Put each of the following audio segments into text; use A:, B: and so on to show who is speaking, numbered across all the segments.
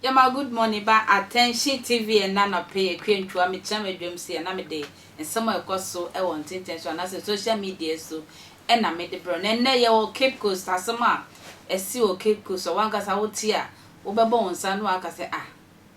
A: Yɛma good morning ba Attention TV ɛna anɔpɛ yɛ kwe ntua mekyerɛ m'adwam si ɛna mede nsɛm a ɛkɔ so ɛwɔ ntenten so anaasɛ social media so ɛna mede brɛ na ɛnɛ yɛwɔ Cape Coast asɛm a ɛsi wɔ Cape Coast a wankasa wote a wobɛbɔ wo nsa no aka sɛ ah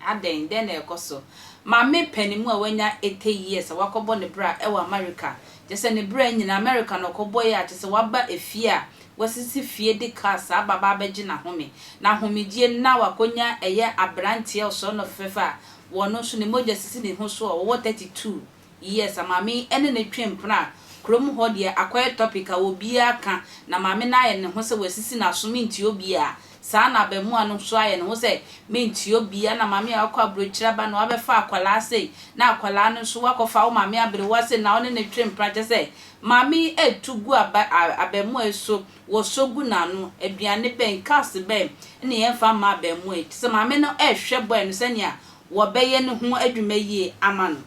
A: Adɛn? Dɛn na ɛrekɔ so? Maame panin mu a wanya eighty years a wakɔbɔ ne bra wɔ Amerika, kyerɛ sɛ ne bra nyinaa Amerika na ɔkɔbɔe a kyerɛ sɛ waba efie a wɔasisi fie de kaa saa ba aba abɛgye n'ahome, n'ahomegyeɛ no na wakɔnya ɛyɛ aberanteɛ ɔsɔre na ɔfɛfɛɛfɛ a wɔno nso ne mogya sisi ne ho so a ɔwɔ thirty two. Yes a maame yi ɛne no twe mpena a kurom hɔ deɛ akɔyɛ topic a obiara ka na maame no ayɛ ne ho sɛ wasisi n'aso mentie obiara saa na abamua no nso ayɛ ne ho sɛ mentie obiara na maame a wakɔ abrokyire aba na wabɛfa akwadaa sei na akwadaa no nso wakɔfa wo maame aberewa sei na ɔne no twe mpena kyɛ sɛ maame yi ɛtu gu aba abamua yi so wɔsɔ gu n'ano aduane bɛn cars bɛn na yɛmfa mma abamua yi te sɛ maame no ɛhwɛ boy no sɛnea wɔbɛyɛ no ho adwuma yie ama no.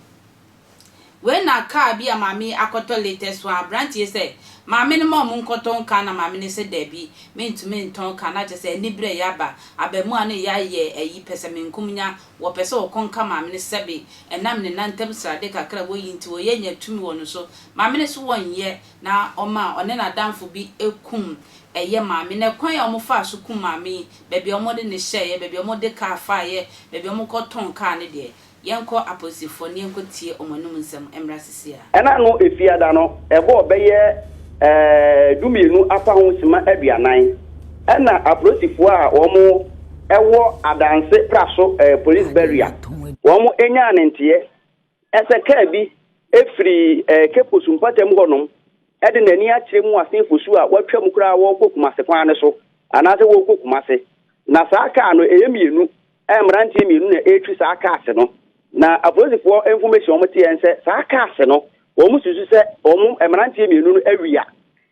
A: Wei na car bi a maame yi akɔtɔ latest one, aberanteɛ yi sɛ, Maame no ma wɔnkɔtɔn car na maame no sɛ dabi, mentumi ntɔn car, na kyerɛ sɛ aniberɛ reyɛ aba, abaamua no reyɛ ayɛ ayi pɛsɛmenkomenya, wɔpɛ sɛ wɔkɔ nka maame no sɛbe ɛnam ne nan ntam srade kakra a wɔyi nti wɔyɛ nya tumi wɔ no so, maame no se wɔnyɛ, na ɔma ɔne n'adamfo bi kum ɛyɛ maame no. Ɛkwan a wɔfaa so kum maame yi baabi a wɔde no hyɛeɛ, baabi a wɔde kaa faeɛ, baabi a wɔkɔtɔn kaa no deɛ, yɛnkɔ apolisifoɔ na yɛnkɔtie wɔn anom nsɛm mmra seesei ara. Ɛna no Efiada
B: no ɛbɔɔ bɛyɛ dumienu apa ho sima aduanan ɛna aprosifoɔ a wɔn ɛwɔ Adanse Praso Police Barrier wɔn nyaa ne nteɛ Ɛsɛ kaa bi firi Keposu mpata mu hɔnom de n'ani akyerɛ mu asen Fosu a wɔatwa mu koraa wɔrekɔ Kumase kwan no so anaasɛ wɔrekɔ Kumase. Na saa kaa no, ɛyɛ mmienu. Mmeranteɛ mmienu na ɛretwi saa cars no. Na apolisifoɔ information a wɔteɛ ne sɛ saa cars no, wɔsusu sɛ wɔn mmeranteɛ mmienu no awia.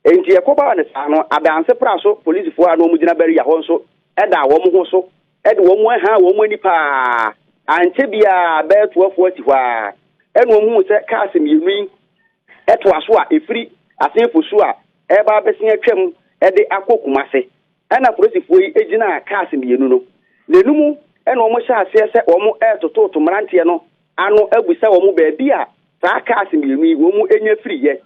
B: Enti ɛkɔbaa no saa no, Adanse Pra so polisifoɔ a na wɔgyina barrier hɔ nso daa wɔn ho so. ɛde wɔn ahaa wɔn ani paa. Ankyɛ biara bɛɛtoafoɔ asi hɔ ara, ɛna wɔhuu sɛ kaase mmienu yi toa so a ɛfiri Asenfo so a ɛreba abɛsen atwam de akɔ Kumase. Ɛna apolisifoɔ yi gyinaa kaase mmienu no n'anum na wɔhyɛɛ aseɛ sɛ wɔretototo mmeranteɛ no ano abisa wɔn baabi a saa kaase mmienu yi wɔnya firiiɛ.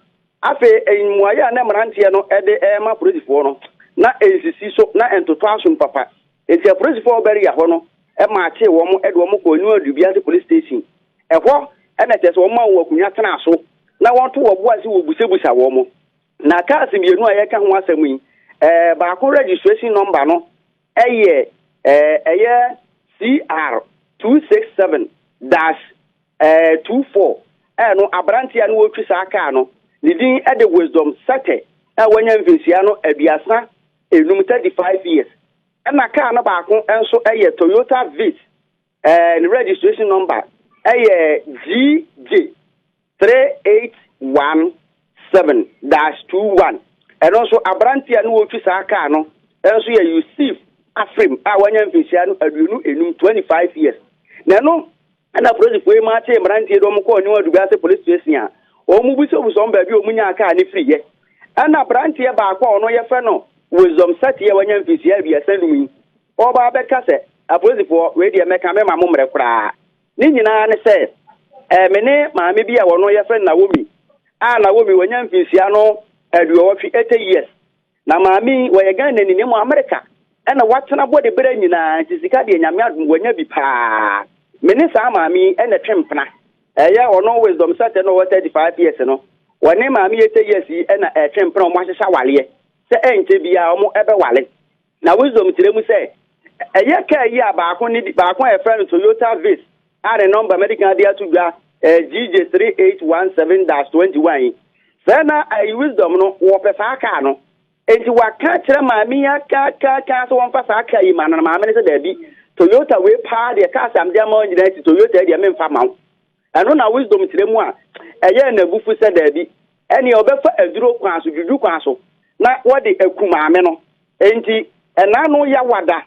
B: Afei mmuaeɛ a na mmeranteɛ no de rema apolisifoɔ no, na ɛnsisi so, na ɛntotɔɔ asom papa. Enti apolisifo a wɔwɔ Berea hɔ no maakyee wɔn de wɔn kɔɔ New Adwui Biase Police Station. Ɛhɔ na kyerɛ sɛ wɔmaa wɔn akonnwa tenaa so na wɔto wɔn bo ase wobusabusa wɔn. Na cars mmienu a yɛreka ho asɛm yi, baako registration number no yɛ ɛyɛ CR 267 dash 24. Ɛno aberanteɛ a na ɔretwi saa kaa no, ne din de Wisdom Sete a wanya mfinhyia no aduasa Ɛnum thirty five years ɛna car no baako nso ɛyɛ Toyota Vitz ɛɛ ne registration number ɛyɛ GJ three eight one seven dash two one ɛno nso aberanteɛ a ne wɔtwi saa car no ɛnso yɛ Yusuf Afrim a wanya mfinhyia no aduonu enum twenty five years na ɛno Ɛnna polisifo yi maakyee mmeranteɛ de wɔn kɔɔ New Adubiase Police Station a wɔbisabisa wɔn baabi a wɔnyaa kaa no firiiɛ. Ɛnna aberanteɛ baako a ɔno yɛfrɛ no Wisdom Satie a wanya mfirihyia aduasa nnum yi, ɔba abɛka sɛ, Apolisifoɔ, wei deɛ mɛka, meremma mommrɛ koraa. Ne nyinaa ne sɛ, ɛɛ, me ne maame bi a ɔno yɛfrɛ no Naomi a Naomi wanya mfirihyia no aduɔwɔtwe, 80 years, Na maame yi ɔyɛ Ghana ni na mmom Amerika na watena bɔ de berɛ nyinaa nti sika deɛ Nyame adom wanya bi paa. Me ne saa maame yi na ɛtwe mpena. Ɛyɛ ɔno Wisdom Sɛtɛ no a ɔwɔ 35 years no, ɔne maame Yete Yes yi na ɛtwe mpena wɔn ahyehyɛ awareɛ sɛ ɛnkyɛ biara wɔn bɛware. Na Wisdom kyerɛ mu sɛ ɛyɛ kaa yi a baako ne baako a yɛfrɛ no Toyota Viz a ne nɔmba mɛde kan de ato dwa ɛyɛ GJ3817-21 yi. Sɛ na ɛyɛ Wisdom no, wɔpɛ saa kaa no. Enti waka akyerɛ maame yi akaakaaka sɛ wɔmfa saa kaa yi ma no, na maame no sɛ daabi, Toyota wei paa deɛ, cars a mede ama wo nyinaa akyi, Toyota yi deɛ memfa ma wo. Ɛno na Wisdom kyerɛ mu a ɛyɛɛ n'abufu sɛ daabi, ɛneɛ ɔbɛfa aduro kwan so, dwudwu kwan so, na wɔde aku maame no. Enti ɛna ano yawada.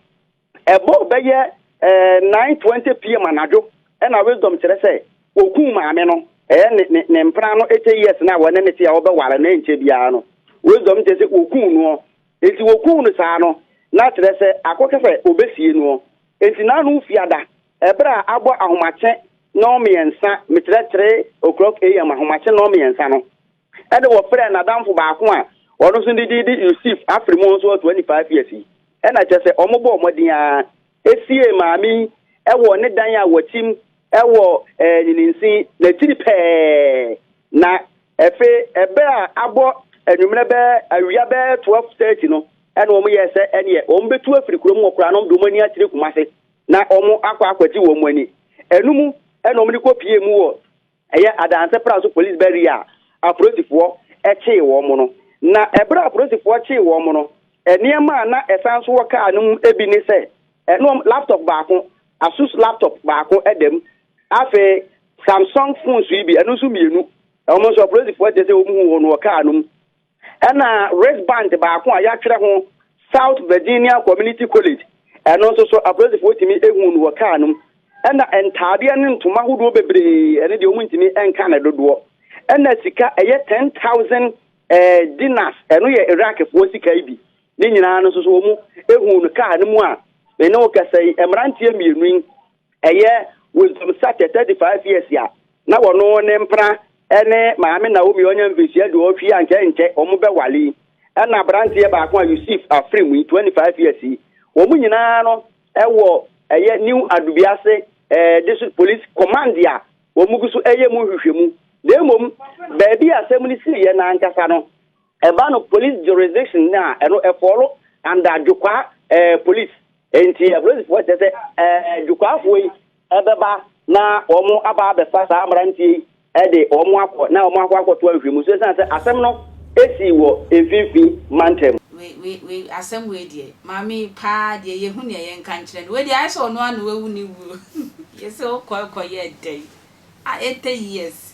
B: Ɛbɔɔ bɛyɛ 9:20 pm anadwo na Wisdom kyerɛ sɛ wɔkuu maame no. Ɛyɛ ne ne ne mpena no eight years no a wɔne no te a wɔbɛware no ɛnkyɛ biara no, Wisdom kyerɛ sɛ wɔkuu noɔ. Enti wɔkuu no saa no, na kyerɛ sɛ akɔka sɛ ɔbɛsie noɔ. Enti n'ano fia da. Ɛberɛ a abɔ ahomakye nnɔnmiɛnsa, mekyerɛ three o'clock AM, ahomakye nnɔnmiɛnsa no, Ɛnna wɔfrɛɛ n'adamfo baako a ɔno nso ne din de Yusif afiri mu nso ɔtoa nipa afiase yi. Ɛnna kyerɛ sɛ wɔbɔɔ mmɔden ara siee maame yi wɔ ne dan a wɔtim wɔ Nyininsi no akyiri pɛɛ, na afei bere a abɔ anwummerɛ bɛyɛ awia bɛyɛ 12:30 no, ɛnna wɔyɛɛ sɛ ɛneɛ wɔbɛtu afiri kurom wɔ koraa na wɔde wɔn ani akyerɛ Kumase na wɔakɔ akɔgye wɔn ani. Ɛno mu na wɔde kɔpuee mu wɔ Ɛyɛ adanse pra so polis bɛwea a apolisifoɔ kyee wɔn no. Na ɛberɛ a apolisifoɔ kyee wɔn no, nneɛma a na ɛsan so wɔ kaa no mu bi ne sɛ, ɛne wɔn laptop baako, Asus laptop baako da mu, afei Samsung phones yi bi, ɛno nso mmienu, wɔn nso apolisifoɔ kyerɛ sɛ wɔhuu wɔn wɔ kaa no mu. Ɛnna wristband baako a yɛatwerɛ ho South Virginia Community College, ɛno nso so apolisifoɔ tumi huu no wɔ kaa no mu. Ɛnna ntaadeɛ ne ntoma ahodoɔ bebree, ɛno deɛ wɔntumi nka ne dodoɔ. Ɛnna sika, ɛyɛ 10,000 eh, dinars, ɛno yɛ Iraqfoɔ sika yi bi. Ne nyinaa no nso so wɔhuu no kaa no mu a me ne wo kasa yi, mmeranteɛ mmienu yi Ɛyɛ Wisdom Sachet 35 years a na wɔno ne mpena ne Maame Naomi a ɔnya mfirihyia aduɔwɔtwe yi ankyɛ nkyɛ wɔn bɛwale yi ɛna abranteɛ baako a Yusif Afrim yi 25 years yi wɔn nyinaa no ɛwɔ ɛyɛ New Adubiase ɛɛ District Police Command a wɔn gu so ɛyɛ mu nhwehwɛmu na mmom baabi a asɛm no siiɛ no ankasa no Ɛba no police jurisdiction no a, ɛno ɛfɔɔlo under Dwokwaa eh, police. Enti apolisifoɔ kyerɛ sɛ eh, Dwokwaafoɔ yi ɛbɛba na wɔn aba abɛfa saa mmeranteɛ yi ɛde wɔn akɔ na wɔn akɔ akɔto ahwehwɛmu so ɛsiane sɛ asɛm no ɛsii wɔ mfimfini mantam. Wei wei wei
A: asɛm wei deɛ maame yi paa deɛ yɛ hu nea yɛ nka nkyerɛ no wei deɛ ayɛ sɛ ɔno ara na wawu ne wuo yɛ sɛ ɔkɔ ɛkɔ yɛɛ dɛn ah eighty years